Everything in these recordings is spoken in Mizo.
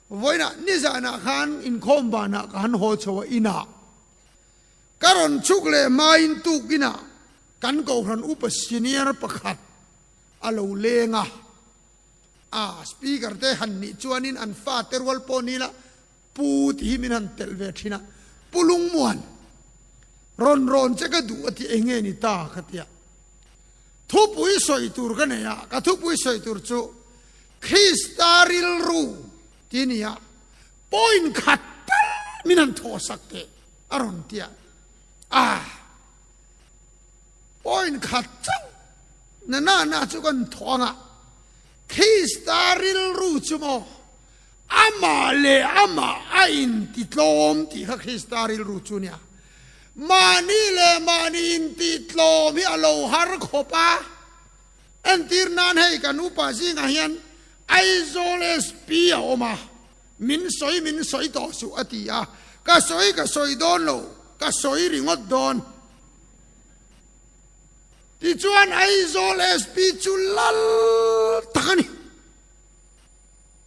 Vawiin ah nizan ah khan inkhawm van ah ka han haw chho a in ah ka rawn chuk leh hmain tuk in ah kan Kohhran upa senior pakhat a lo leng a, ah speaker te han nih chuan in an fa te rual pawh ni ila Pu ti hi min han telh ve thin a, Pu Lungmuan rawn rawn che ka duh a ti eng nge ni ta ka ti a, thupui sawi tur ka nei a, ka thupui sawi tur chu Krista rilru ti ni a, point khat tal min han thawhsak teh a rawn ti a. Ah, point khat chauh na na na chu kan thawh anga Krista rilru chu maw amah leh amah a intitlawm tih kha Krista rilru chu nia. Mahni leh mahni intitlawm hi a lo har khawp a, Entir nan hei kan upa zingah hian Aizawl SP a awm a, min sawi min sawi tawh suh a ti a, ka sawi ka sawi dawn lo, ka sawi ringawt dawn. Tichuan Aizawl SP chu lal tak a ni,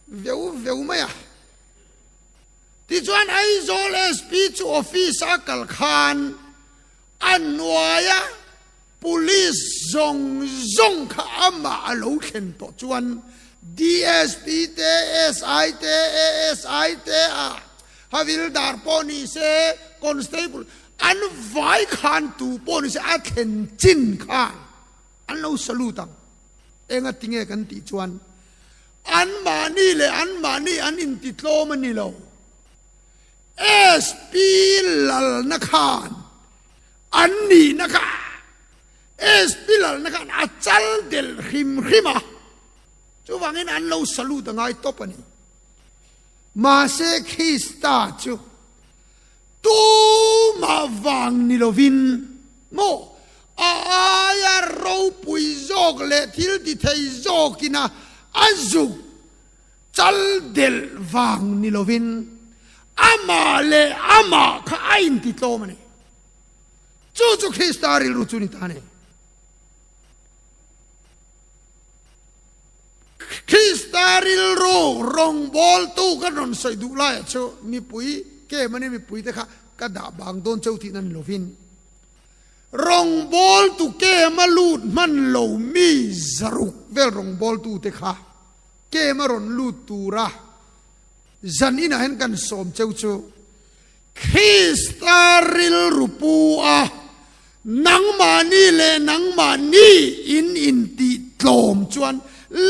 veu veu mai a. Tichuan Aizawl SP chu office a kal khan, A hnuaia Police zawng zawng kha amah a lo thlen tawh chuan DSP te, SI te, ASI te a, Havildar pawh ni se, Constable an vai khan tu pawh ni se a thlen chin khan an lo salute ang. Enga tinge kan tih chuan anmahni leh anmahni an intitlawm a ni lo. SP lalna khan an nihna kha SP lalna khan a chal del hrim hrim a, chuvangin an lo salute a ngai tawp a ni. Mahse Krista chu tumah vang ni lovin maw a aia ropui zawk leh thiltithei zawkina a zuk? Chal delh vang ni lovin amah leh amah kha a intitlawm a ni. Chu chu Krista rilru chu ni ta a ni. Krista rilru rawngbawltu kan rawn sawi duh laiah chu mipui ke mani mipuite kha ka dah bang dawn cheu tihna ni lovin rawngbawltu kema lut hman lomi zaruk vel rawngbawltute kha Kem a rawn lut tura zan inah hian kan sawm cheu chu Krista rilru pu a nangmahni leh nangmahni in intih tlawm chuan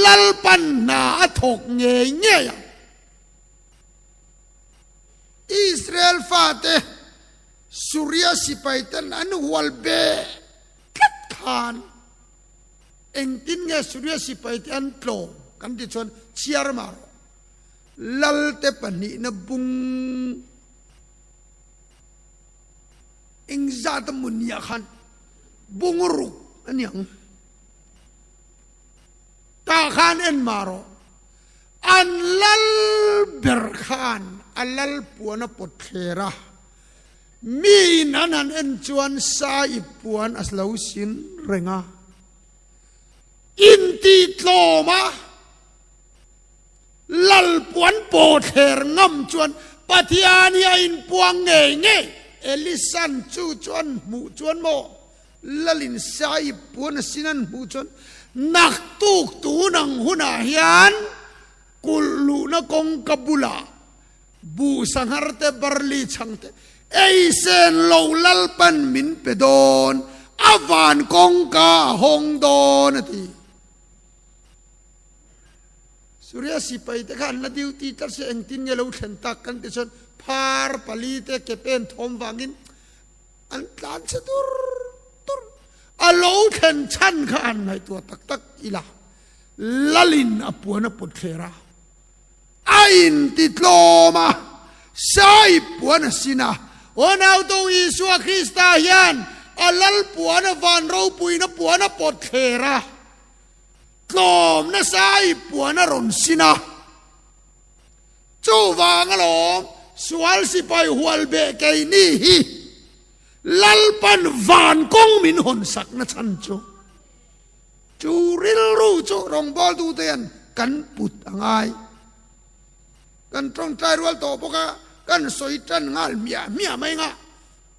lalpan hna a thawk ngei ngei ang. Israel fate Suria sipai ten an hual be tlat khan. Engtin nge Suria sipai te an tlawm kan ti chuan chhiar mah rawh. Lalte pahnihna bung engzat a mu nia khan Bungruk a ni ang. Tah khan en mah rawh. An lal ber khan a lal puana pawt thler a. Mi in an han en chuan sa ip puan a lo sin reng a, intitlawm a lal puan paw thler ngam chuan Pathian hi a inpuang ngei ngei. Elisan chu chuan hmuh chuan maw lal in sa ip puan a sin an hmuh chuan naktuk tun ang hunah hian kulh luhna kawngka bulah Buh sangher te, barley chhang te, ei sen lo lalpan min pe dawn, a van kawngka a hawng dawn a ti. Suria sipai te khan la duty tlat se engtin nge lo thlen tak kan ti chuan phar pali te ke pen thawm vangin an tlan se tur tur a lo thlen chhan kha an ngaihtuah tak tak ila lalin a puan a pawt thler a. A inti tlawm a, Sahib puan a sin a. Unau to Isua Krista hian a Lalpuan a van ropuina puan a pawt thler a, tlawmna Sahib puan a rawn sin a. Chuvang alawm sual sipai hual beh keini hi Lalpan van kawng min hawn sakna chhan chu. Chu rilru chu rawngbâwl dute hian kan put a ngai. Kan ṭawngṭai rual tawh bawk a, kan sawi ṭan nghal hmiah hmiah mai ngah.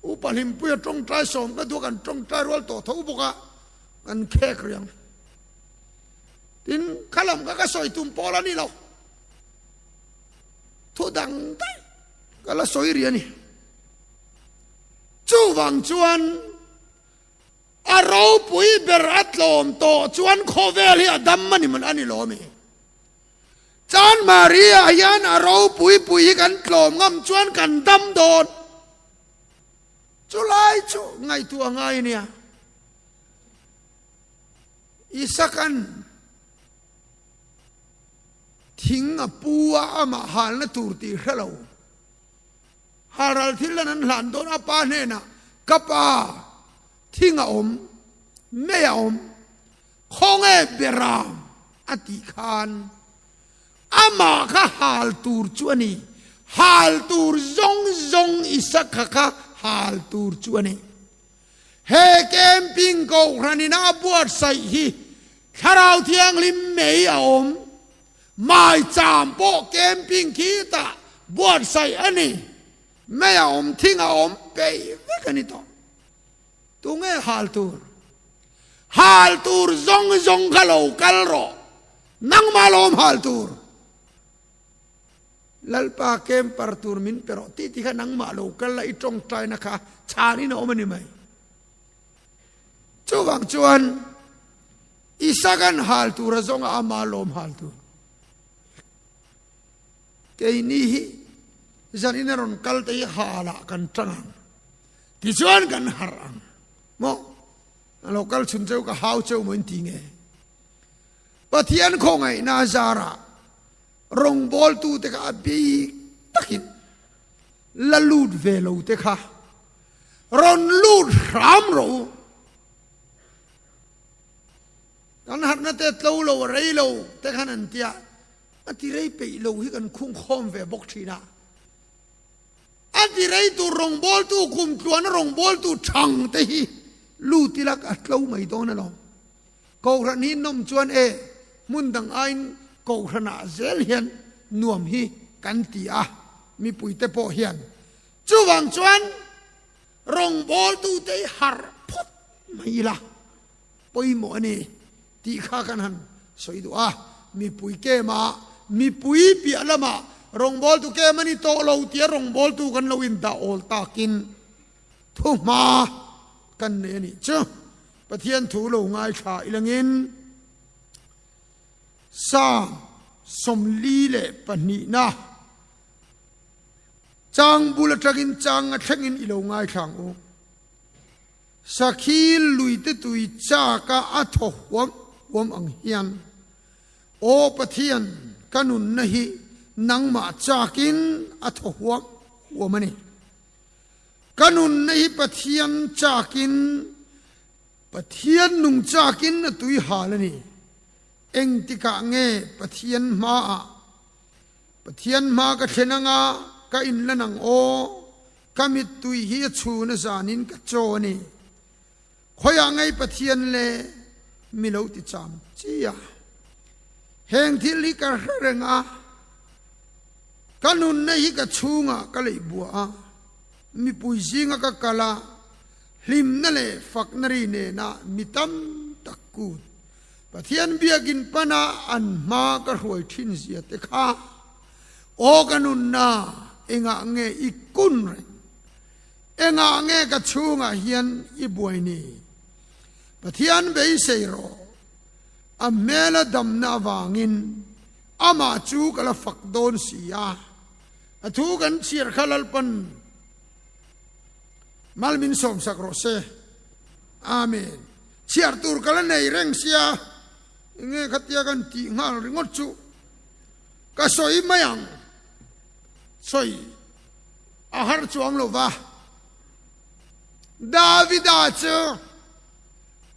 U Pahlimpuia ṭawngṭai sawm ka duh a, kan ṭawngṭai rual tawh tho bawk a, kan khêk riang. Tin, kha lam kha ka sawi tum pawl a ni lo. Thu dang daih ka la sawi ri a ni. Chuvang chuan. A ropui ber a tlawm tawh chuan khawvel hi a dam a ni a ni lawm e. Chan Maria hian a ropui pui hi kan tlawm ngam chuan kan dam dawn. Chulai chu ngaihtuah a ngai ania. Isakan thing a pu a amah halna tur tih hrelo Haral thillan an hlan dawn a pa hnenah, Ka pa, thing a awm, mei a awm, khawnge ber ang? a tih khan amah kha hal tur chu a ni. Hal tur zawng zawng isa kha kha hal tur chu a ni. He camping Kohhranina a buatsaih hi Thlarau Thianghlim mei a awm, Mai cham pawh camping khi ta buatsaih a ni. Mai a awm thing a awm peih vek a ni tawh. Tunge hal tur? Hal tur zawng zawng kha lo kal rawh. Nangmah lo awm hal tur. Lalpa camper tur min pe rawh titi kha nangmah lo kal a i tawngtaina kha chhanin a awm a ni mai. Chuvang chuan. I sagan hal tura zawnga ama lawm hal tur keini hi zanin a rawn kal te hi hala kan tang ang tichuan kan har ang mo alo kal chhun cheu ka hau cheu moin ti nge pathian kho ngai na zara rong bol tu te ka abi takin la lut ve lo te kha ron lut ram ro Kan harhna te tlo lo a rei lo te khan an ti a, a ti rei peih lo hi kan khung khawm ve bawk thin a, a ti rei tur rawngbawltu kum tluana rawngbawltu thang te hi lu tilak a tlo mai dawn alawm. Kohhran hi nawm chuan e hmun dang aiin kohhran ah zel hian nuam hi kan ti a, mipui te pawh hian. Chuvang chuan. Rawngbawltu te hi harh phawt mai ila pawimawh a ni tih kha kan han sawi duh a, mipui kema mipui piah lama rawngbawltu kem a ni tawh lo tia rawngbawltu kan lo indah awl takin thu hma kan nei a nih chu. Pathian thu lo ngaithla ilangin Psalm sawmli leh pahnihna, Chang bul atangin changa thlengin i lo ngaithlang u. Sakhi luite tui chaka a thaw huam huam ang hian, Aw Pathian, ka nunna hi nangmah chakin a thaw huam huam a ni. Ka nunna hi Pathian chakin, Pathian nung chakin a tui hal a ni. Engtikah nge Pathian hmaah Pathian hma ka thlen anga ka in la nang aw, ka mittui hi a chhuna zanin ka chaw a ni. Khawiah ngei Pathian le mi lo ti cham chi a. Heng thil hi ka hre reng a, ka nunna hi ka chhungah ka lei bua a, mipui zinga ka kal a, hlimna leh fakna ri nena mi tam tak kut Pathian biakin pana an hma ka hruai thin zia te kha aw ka nunna engah nge i kun reng? Engah nge ka chhungah hian i buai ni? Pathian beisei rawh, a hmela damna avangin amah chu ka la fak dawn si a, a thu kan chhiar kha Lalpan malmin sawmsak rawh se. Amen. Chhiar tur ka la nei reng sia, enge khatia kan tih nghal ringawt chu ka sawi mai ang. Sawi a har chuang lo va. Davida chu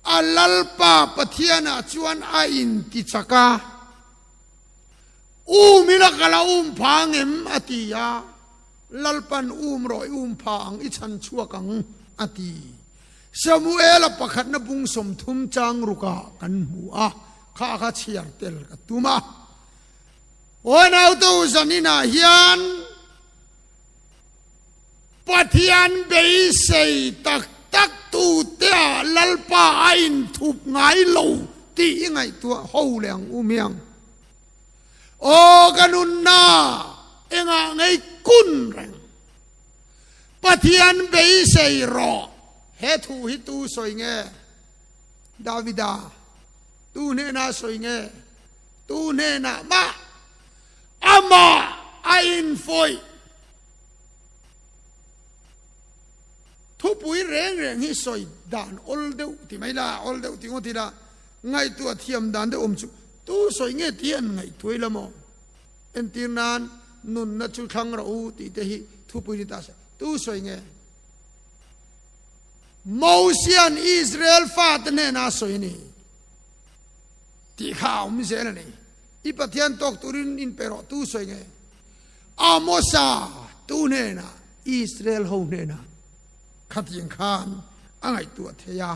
a Lalpa Pathianah chuan a inti chak a, Um ila ka la um phang em? a ti a. Lalpa'n, Um rawh, i um phah ang, i chhan chhuak ang, a ti. Samuela pakhatna bung sawmthum chang ruka kan hmu a, kha kha chhiar tel ka tum a. Aw nauto zanina hian Pathian beisei tak tak tu tea lalpa a inthup ngai lo ti i ngaihtuah ho le ang um hiang. Aw ka nunna engah ngei kun reng. Pathian beisei rawh. He thu hi tu sawi nge? Davida tu hnenah sawi nge? Tu hnenah mah amah a infawih thupui reng reng hi sawi dan awl deuh ti mai la, awl deuh ti ngawt ila ngaihtuah thiam dan deuh awm chu tu sawi nge tih hi an ngaihtuai lam aw. Entir nan nunna chu thlang rawh u tih te hi thupui ni ta se. Tu sawi nge? Mosia'n Israel fate hnenah sawi a ni tih kha a awm zel a ni. I Pathian tawk turin in pe rawh tu sawi nge? Amosa tu hnenah Israel ho hnenah khatin khan a ngaihtuah thei a.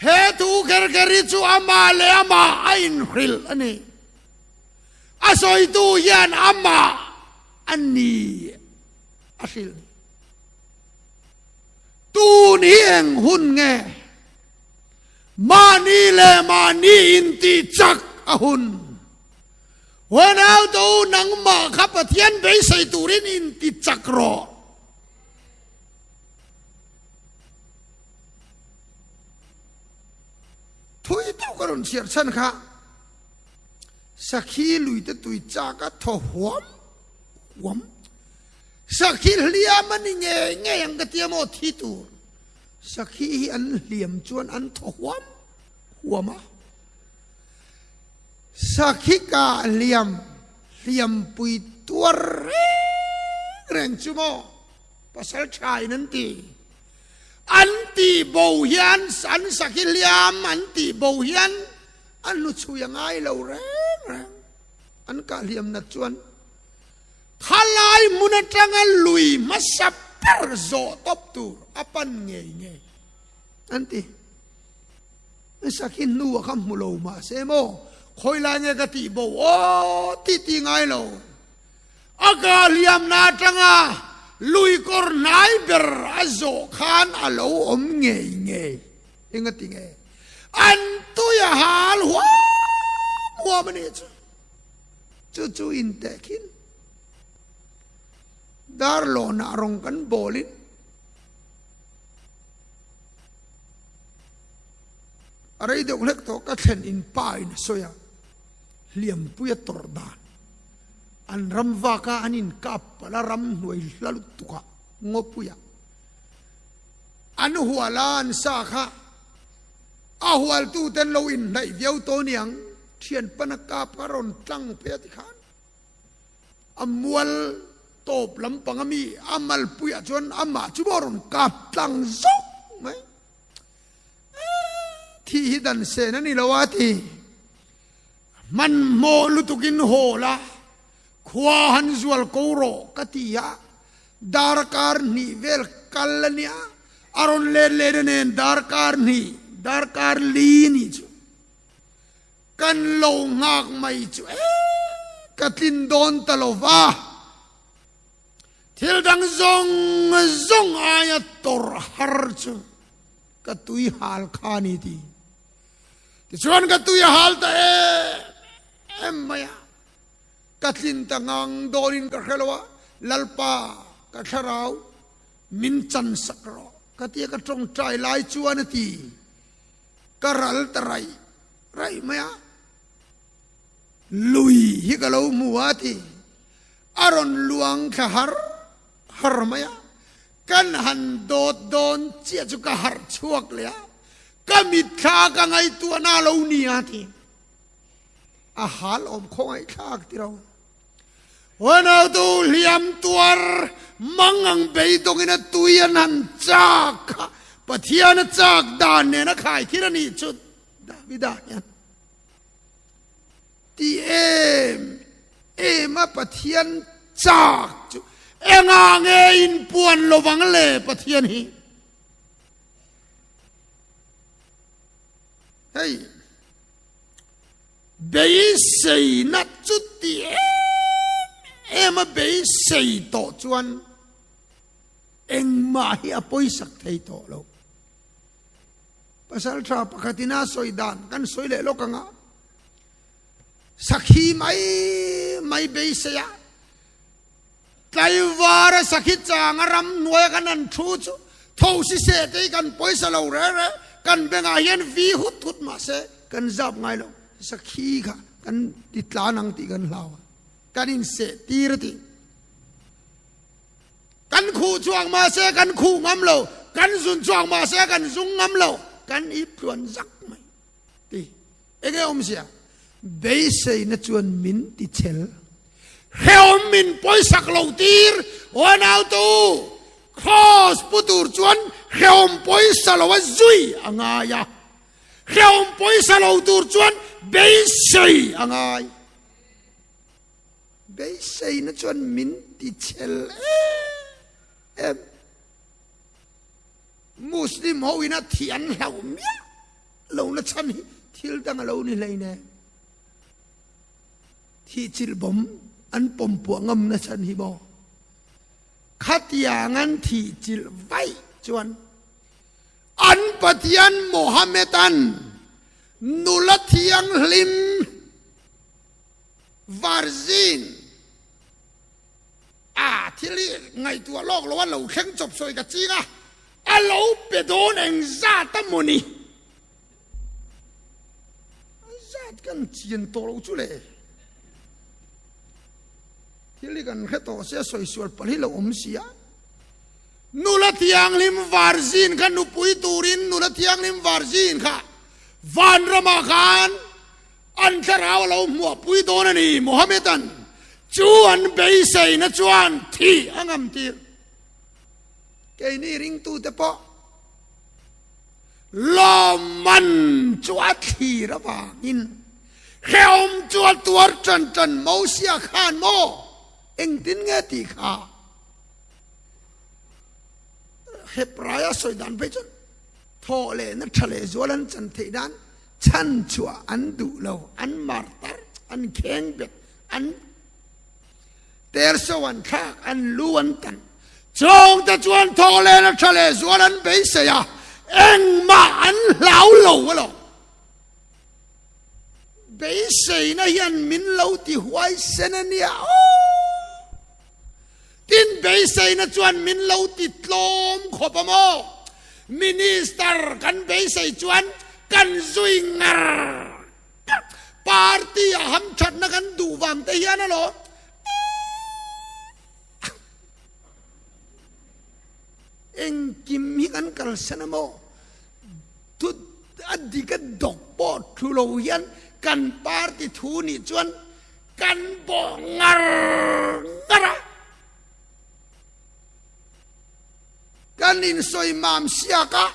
He thu kher kher hi chu amah leh amah a inhrilh a ni. a sawitu hian amah a ni a hrilh ni. Tun hi eng hun nge? Mahni leh mahni in tih chak a hun. Huanauto nangmah kha Pathian beisei turin in ti chak rawh. Thui deuh ka rawn chhiar chhan kha Sakhi luite tui chak a thaw huam huam. Sakhi hliam a ni nge nge ang ka tia maw thi tur. Sakhi hi an hliam chuan an thaw huam huam a. Sakhi ka hliam hliam pui tuar reng reng chu maw pasal tha in an ti. An ti bo hian an sakhi hliam an ti bo hian A hnu chhui a ngai lo reng reng. An kahliam nat chuan Thalai hmun atanga lui hmasa ber zawh tawp tur a pan ngei ngei an ti. I sakhi hnu a kha hmu lo mah se maw, khawilai nge ka tih bo aw tih ti ngai lo. A kahliamna atanga lui kawr hnai ber a zawh khan a lo awm ngei ngei. Enga ti nge an tui a hal huam huam a nih chu? Chu chu in teh khin dar lawnah rawng kan bawl in a rei deuh hlek tawh ka thlen in pa in a sawi a, Hliampui a tawrh dan an ram vak a an in kap palh a ram hnuai hla lutuk ah Ngawpuia An hual a an sa kha a hualtu ten lo in hnaih viau tawh niang thian pan a kap kha rawn tlang phei a ti khan a mual tawp lam pang ami a malpui ah chuan amah chu bo rawn kap tlang zawk mai a thih hi dan sen a ni lo a ti hman hmawh lutuk in hawl a khua han zual ko rawh ka ti a Dar a kar hnih vel kal a nia. A rawn let let a nen dar kar hnih, dar kar li nih chu kan lo nghak mai chu e ka tlin dawn ta lo va. Thil dang zawng zawng aia tawrh har chu ka tui hal kha a ni ti. Tichuan ka tui a hal ta em em mai a. Ka tlin ta ngang dawn in ka hre lo a, Lalpa, ka thlarau, min chansak rawh. Ka ti a, ka tawngtai lai chuan a ti. Ka ral ta raih raih mai a, lui hi ka lo hmu a ti. A rawn luang thla har har mai a, kan han dawt dawn chiah chu ka harh chhuak leh a, ka mitthla ka ngaihtuahna lo nia a ti. a hal awm khawngaih thlak tira awm. Huanautu Hliamtuar Mangang beidawngin a tui an han chak kha Pathian a chak dan nen a khaithir a nih chuh Davida hian Ti em em a Pathian chak chu enga nge in puan lovang le Pathian hi hei. beiseina chu ti em em a beisei tawh chuan engmah hi a pawisak thei tawh lo pasal tha pakhatin a sawi dan kan sawi leh lawk anga sakhi mai mai beiseia Tlaivara sakhi changa ram hnuaia kan han thu chu tho siseh te hi kan pawisa lo reh reh, kan bengah hian vi hut hut mahse kan zap ngai lo, sakhi kha kan ti tlan ang tih kan hlau a, kan inseh tir a ti. Kan khuh chuak mahse kan khuh ngam lo, kan zun chuak mahse kan zung ngam lo, kan itluan zak mai. Ti. Enge a awmzia? Beiseina chuan min ti chel. Hrehawm min pawisak lo tir aw nautu, Kraws pu tur chuan hrehawm pawisa lo a zui a ngai a. Hrehawm pawisa lo tur chuan beisei a ngai. Beiseina chuan min ti chel em em. Muslim ho in a thih an hlau miah lo na chhan hi thil dang a lo ni hlei ne. Thih chilh bawm an pawm puah ngam na chhan hi maw? Khatiang an thih chilh vaih chuan an Pathian Mohammed an nula thianghlim var zing A, thil hi ngaihtuah lawk loh a lo thleng chawp sawi ka ching a. A lo pe dawn engzat a maw ni? Zat kan chian tawh loh chu le. Thil hi kan hre tawh se a sawi sual pal hi lo awm si a. Nula thianghlim var zin kha nupui turin Nula thianghlim var zin kha vanram ah khan An thlarau a lo hmuahpui dawn a ni. Mohammedan chu an beiseina chuan thih a ngam tir. Keini ringtute pawh lawmman chu a thlir avangin hreawm chu a tuar ṭan ṭan mo sia khan maw engtin nge tih kha Hebraia sawi dan phei chuan thawhlehna ṭha leh zual an chan theih dan. Chhan chhuah an duh lo, an martar, an kheng bet, an terso an thlak, an lu an tan. Chhawng te chuan thaw len a tha leh zual an beisei a, engmah an hlau lo alawm. Beiseina hian min lo ti huaisen a nia aw. Tin, beiseina chuan min lo ti tlawm khawp a maw? Minister kan beisei chuan kan zui ngar tak. Party ah hamthatna kan duh vang te hian a lawm em? Engkim hi kan kalsan a maw? Thu a dik a dawk pawh thu lo hian kan party thu nih chuan Kan bawh ngar ngar a. Kan insawi mam siak a.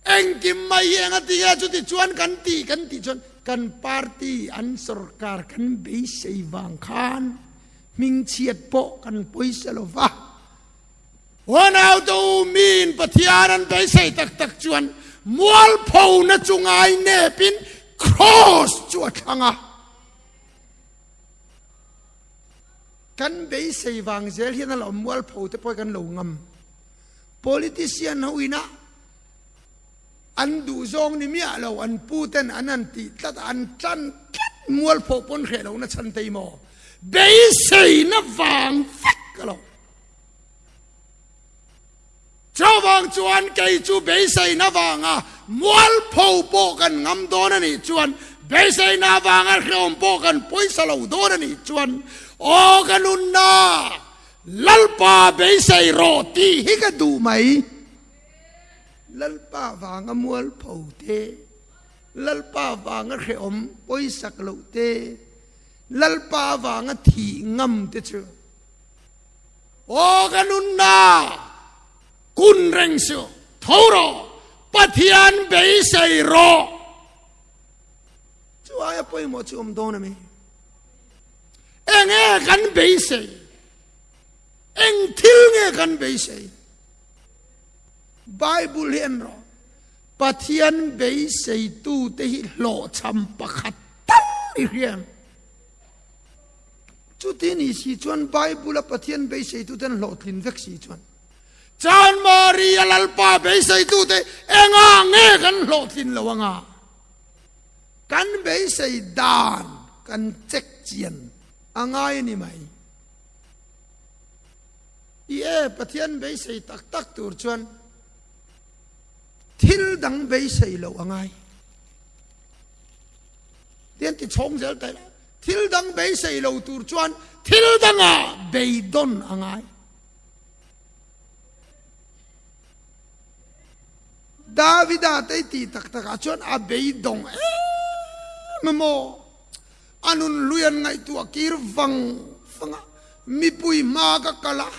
Engkim mai hi eng a ti nge chuti chuan kan ti kan tih chuan kan party an sorkar kan beisei vang khan hmingchhiat pawh kan pawi se lo va. Huanaute ummi in Pathian an beisei tak tak chuan mualphona chu ngai nepin Kraws chu a thlang a. Kan beisei vang zel hian a la awm mualphote pawh kan lo ngam. Politician ho ina an duh zawng ni miah lo an pu ten an han tih tlat a, an tlan tlat mualpho pawn hreh lohna chhan te emaw beiseina vang vek a lo. Chuvang chuan kei chu beiseina avanga mual pho pawh kan ngam dawn a nih chuan beiseina avanga hlawm pawh kan pawisa lo dawn a nih chuan aw ka nunna Lalpa beisei rawh tih hi ka duh mai. Lalpa vanga mual pho te, Lalpa vanga hlawm pawisa ka loh te, Lalpa vanga thih ngam te chu. Aw ka nunna kun reng si u. Tho rawh, Pathian beisei rawh. Chuai a pawimawh chu awm dawn ami? Enge kan beisei? Eng thil nge kan beisei? Bible hi en rawh. Pathian beiseitu te hi hlawhchham pakhat tal i hriam. Chuti ni si chuan Bible-a Pathian beiseituten hlawhtlin vek si chuan Chan Maria lalpa beiseitute enga nge kan hlawhtlin lo anga kan beisei dan kan check chian a ngai a ni mai. I e Pathian beisei tak tak tur chuan thil dang beisei lo a ngai. Tian ti chhawng zel ta ila, thil dang beisei lo tur chuan thil danga beidawn a ngai. Davida teiti tak takah chuan a beidawng em em maw? A nun hluian ngaihtu a kir vang vang a, mipui hma ka kal a,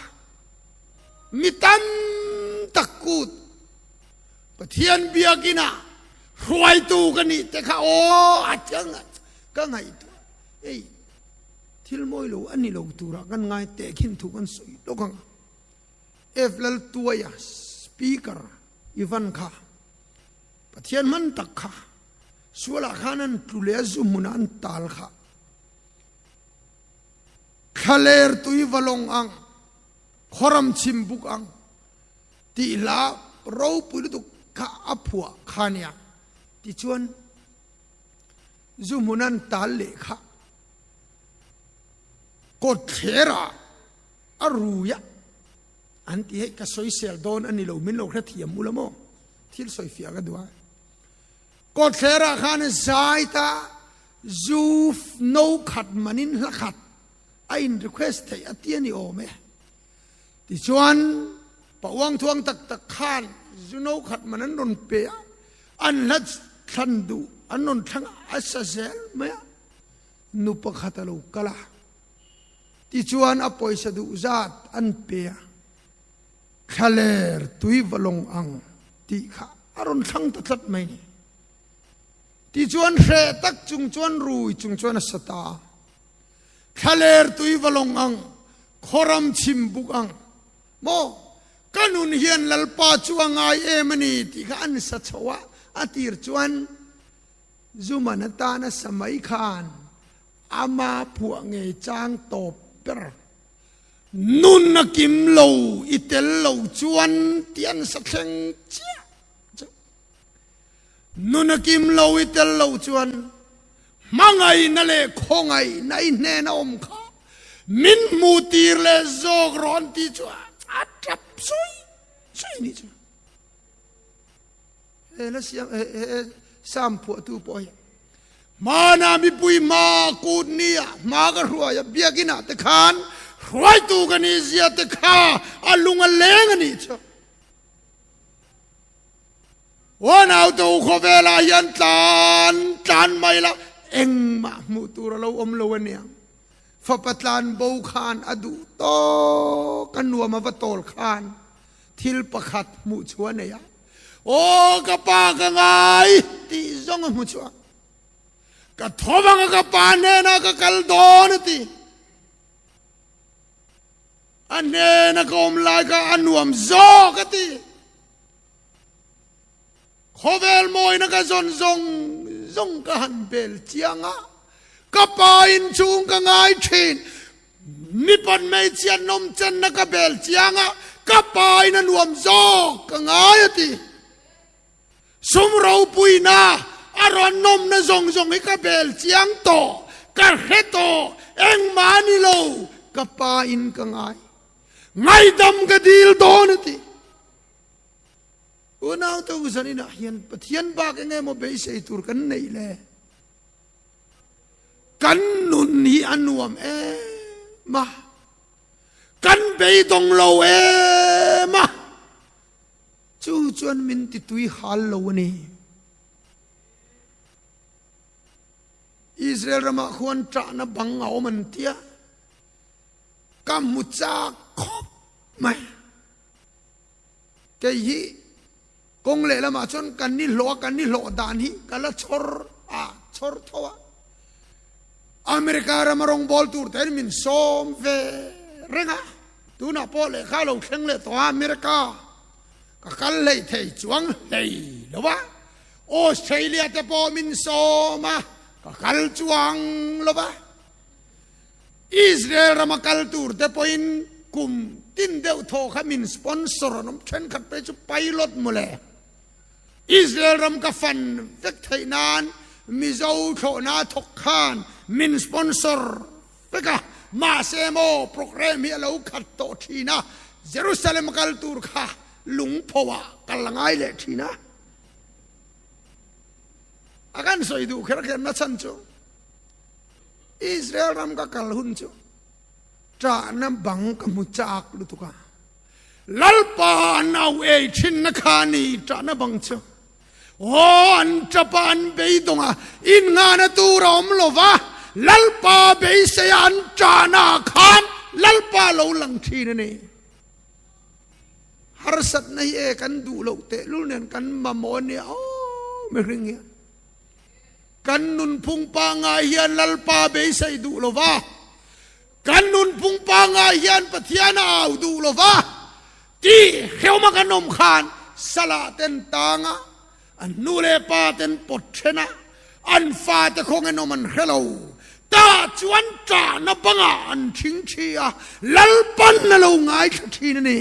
mi tam tak kut. Pathian biakin a hruaitu ka nih te kha aw a changa ka ngaihtuah ei thil mawi lo a ni lo tura kan ngai teh khin thu kan sawi lawk ang a. F Laltuaia speaker i van kha Pathian hman tak kha sualah khan an tlu leh a zu hmuna an tal kha thla lertui va lawng ang, khawram chim buk ang. Tih hla ropui lutuk kha a phuah kha nia. Tichuan, zu hmun an tal leh kha kawtthlerah a ruia an ti hei ka sawisel dawn a ni lo, min lo hre thiam ula maw? Thil sawi fiah ka duh a. Kawtthlerah khan zaita zu no khat manin hla khat a in request theih a ti a ni awm e. Tichuan, pahuang thuang tak tak khan zuno khat man an rawn pe a, an hla thlan duh an rawn thlang a, a sa zel mai a, nu pakhat a lo kal a, tichuan a pawisa duh zat an pe a, thla ler tui va lawng ang tih kha a rawn thlang ta tlat mai ni. Tichuan hreh tak chung chuan rui chung chuan a sa ta a. Thlaler tui va lawng ang, khawram chim buk ang maw? Ka nun hian Lalpa chu a ngai em a ni tih kha an sa chho a, a tir chuan Zuman atana sa mai khan ama phuah ngei chang tawp ber. Nun a kim lo, i tel lo chuan ti an sa thleng chiah chauh. Nun a kim lo i tel lo chuan hmangaihna leh khawngaihna i hnena awm kha min hmu tir leh zawk rawh an ti chuan a tlap sawi sawi ni chuan he la siam he he sam phuahtu pawh hian hmana mipui hma kut ni ah hma ka hruai a biakin ah te khan hruaitu ka ni zia te kha a lung a leng a nih chuan Huanaute ukhawh velah hian tlan tlan mai la engmah hmuh tur a lo awm lo a nia. Fapa tlan bo khan a duh tawk a nuam a va tawl khan thil pakhat hmuh chhuah a nei a, Aw ka pa ka ngai tih zawng a hmu chhuah. Ka tho vanga ka pa hnena ka kal dawn a ti. A hnena ka awm lai kha a nuam zawk a ti. Khawvel mawina ka zawn zawng zawng ka han bel chiang a, ka pa inchung ka ngai thin. Mi pawn hmeichhia nawmchenna ka bel chiang a, ka pa in a nuam zawk ka ngai a ti. Sum ropuina a rawn nawmna zawng zawng hi ka bel chiang tawh, ka hre tawh engmah a ni lo ka pa in ka ngai. Ngaidam ka dil dawn a ti. Unau to zan in ah hian Pathian bak eng emaw beisei tur kan neih le kan nun hi a nuam em a, kan beidawng lo em a, chu chuan min ti tui hal lo a ni. Israel ramah khuan ṭahna bang a awm an tia ka hmu chak khawp mai. Kei hi kawng leh lamah chuan kan ni hlawh a, kan ni hlawh dan hi ka la chhawr a, chhawr tho a. America rama rawng bawl tur te'n min sawm ve reng a, tunah pawh lehkha lo thleng leh tawha America ka kal hlei thei chuang hlei lo a, Australia te pawh min sawm a, ka kal chuang lo a. Israel rama kal tur te pawhin kum tin deuh thawh kha min sponsor an awm thenkhat phei chu pilot maw le Israel ram ka fan vek theih nan Mizo thlawhna thawk khan min sponsor vek a, mahse maw program hi a lo khat tawh thin a, Jerusalem kal tur kha lungpho ah ka la ngai leh thin a. A kan sawi duh kher kher nachhan chu Israel ram ka kal hun chu ṭahna bang ka hmu châk lutuk a. Lalpa an auh ei ṭhinna kha a ni, ṭahna bang chu aw an ṭap a, an beidawngah innghahna tur a awm lo va, Lalpa beiseia an ṭahnaah khan Lalpa lo lang ṭhin a ni. Harsatna hi e kan duh loh tehlul nen kan mamawh a nia aw mihring hian. Kan nunphung pangngai hian Lalpa beisei duh lo va, kan nunphung pangngai hian Pathian a au duh lo va ti hreuma kan awm khan Salahten tanga an nu leh paten pawt thena an fate kawngin awm an hre lo. Tah chuan ṭahna banga an thing thi a, Lalpan a lo ngaithla thin a ni.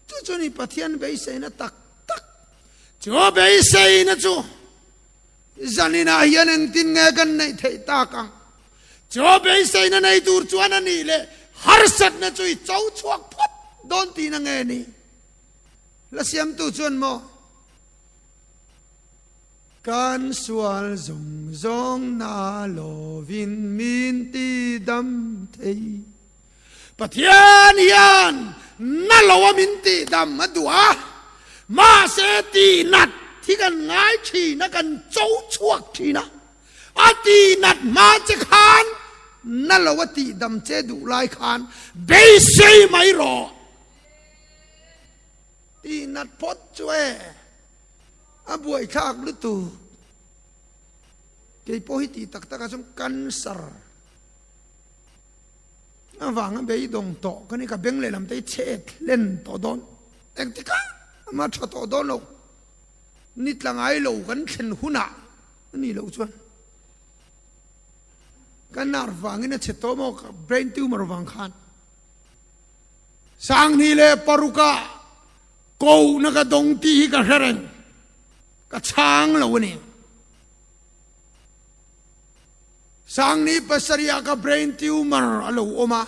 Chu chu ni Pathian beiseina tak tak. Chu beiseina chu zanin ah hian engtin nge kan neih theih tak a? Chu beiseina nei tur chuan a nih leh harsatna chu i cho chhuak phawt dawn tih na nge ni? La siamtu chuan maw kan sual zawng zawng na lovin min ti dam thei? Pathian hian na lo a min tihdam a duh a, mahse tihnat hi kan ngai thin a, kan cho chhuak thin a, a tihnat hma che khan na lo a tihdam che duh lai khan beisei mai rawh. Tihnat phawt chu e a buaithlak lutuk, keipawh hi tih tak tak ah chuan cancer. Avanga beidawng tawh ka ni, ka beng lehlam te hi che e thlen tawh dawn. Engtikah ama tha tawh dawn lo, ni tla ngai lo kan thlen hunah a nih loh chuan ka nar vangin a che tawh maw, ka brain tumor vang khan. Sanghni leh paruka kohna ka dawng tih hi ka hre reng, ka chhang lo a ni. Sangni pasarihah ka brain tumor a lo awm a,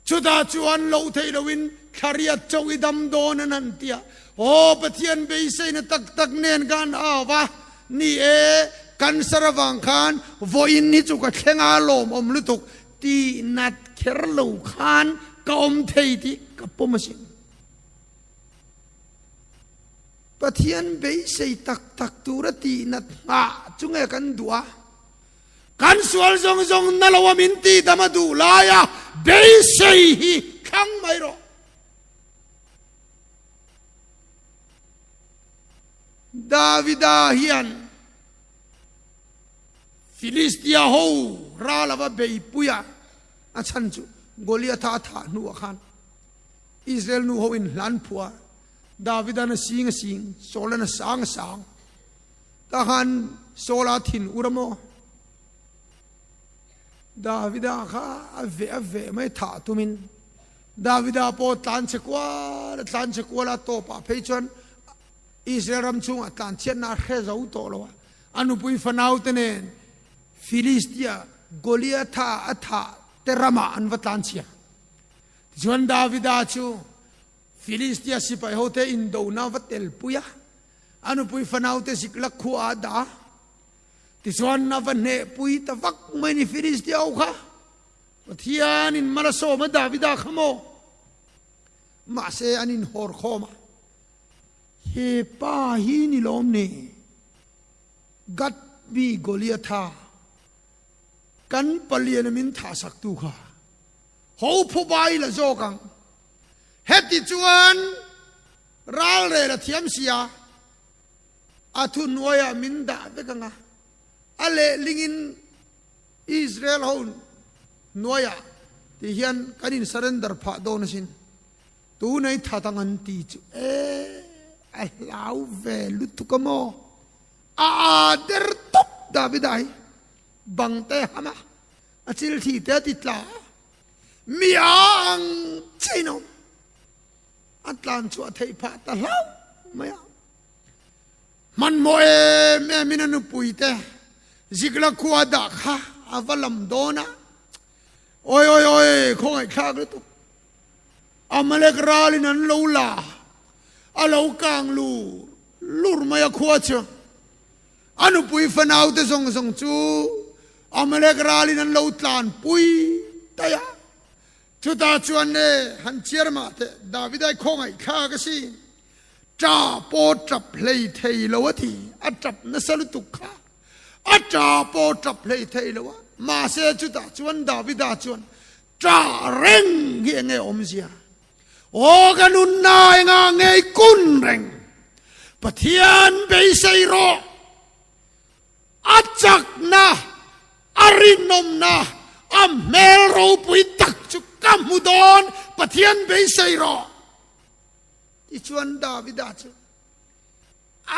chutah chuan loh theih loin thlariat chauh i dam dawn an han ti a, aw Pathian beiseina tak tak nen ka han hau a ni e, cancer avang khan vawiin hi chu ka thleng a lawm awm lutuk ti nat kher lo khan ka awm thei tih ka pawm asin. Pathian beisei tak tak tura tihna nghah chu nge kan duh a? Kan sual zawng zawng na loa min tihdam a duh laia beisei hi thlang mai rawh. Davida hian Filistia ho ral lova beipuia a chhan chu Goliatha a thah hnuah khan Israel nu ho in hlan phua Davida na sing a sing, Saula na sang a sang. Tah khan Saula thin u ra maw? Davida kha a ve a ve mai thah tumin Davida pawh tlan che kual a tlan che kual a tawpah phei chuan Israel ram chungah tlanchiatna a hre zo tawh lo a, a nupui fanaute nen Filistia Goliatha a thahte ramah an va tlanchhiar. Tichuan Davida chu Filistia sipai hote indona va tel pui a, a nupui fanaute zik lak khuaa a dah a. Tichuan a va hnehpui ta vak mai a ni, Filistia ho kha Pathian in mal a sawm a, Davida kha maw? Mahse an inhawr khawm a, He pa hi ni lawm ni? Gat mi Goliatha kan palian a min thahsaktu kha ho phawpa ila zawk ang. Heti chuan ralrel a thiam si a, a thunuaiah min dah vek ang a, a lehlingin Israel ho hnuaiah tih hian kan in surrender phah dawn asin, tunei that ang an ti chu e a hlau ve lutuk a maw? A aa der tawp Davida hi bangte hama a chilthi te a ti tla a. mi a ang chin awm a tlan chu a thei pha ta hlau mai a hmanmaw em em in a nupui te zikla khua da kha a va lam dawn a oi oi oi khawngai thlak lutuk amalek ralin an lo la a lo kang lur lur mai a khua chu A nupui fanaute zawng zawng chu Amalek ralin an lo tlanpui daih a. Chutah chuan nge han chiar mah teh, Davida i khawngaihthlak a ka si, ṭa pawh ṭap hlei thei lo a ti, a ṭap nasa lutuk kha a ṭa pawh ṭap hlei thei lo a. Mahse, chutah chuan Davida chuan, Ṭa reng hi enge awmzia? Aw ka nunna enga ngei kun reng Pathian beisei rawh a chakna a rinawmna a hmel ropui tak chu ka hmu dawn Pathian beisei rawh tichuan Davida chu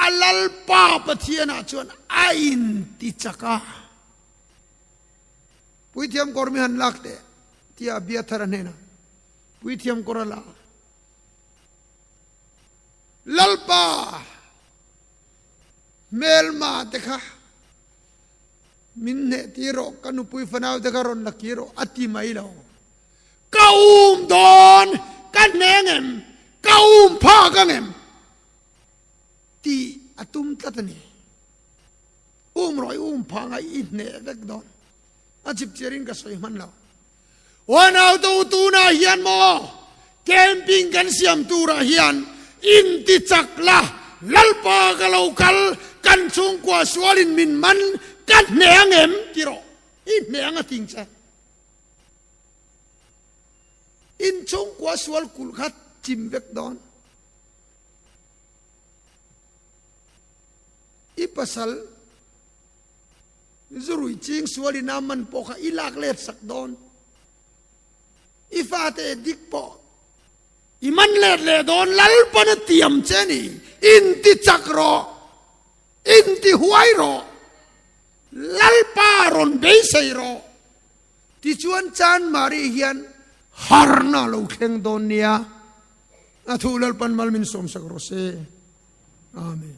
a lalpa Pathianah chuan a inti chak a Puithiam kawr mi han lak teh tia Abiathara hnena. Puithiam kawr a la a. Lalpa hmelma te kha min hneh ti rawh, ka nupui fanau te kha rawn la kir rawh a ti mai lo. Ka um dawn ka hneh ngem, ka um pha ka ngem tih a tum tlat a ni. Um rawh i um pha ngai i hneh vek dawn a chhipchiar in ka sawi hman lo. Huanau to tunah hian maw camping kan siam turah hian intichak la, Lalpa ka lo kal, kan chhungkua sualin min man ka hne ang em tirawh, i hne ang a ting che. In chhungkua sual kulh kha chim vek dawn. I pasal. Zurui ching sual in a man pawh kha i lak let sak dawn. I fate dik pawh i man let leh dawn lalpan a tiam che ni. In ti chak rawh, in ti huai rawh, lalpa rawn beisei rawh. Tichuan Chan Marie hian harna a lo thleng dawn nia. A thu lalpan mal min sawm sak rawh se. Amen.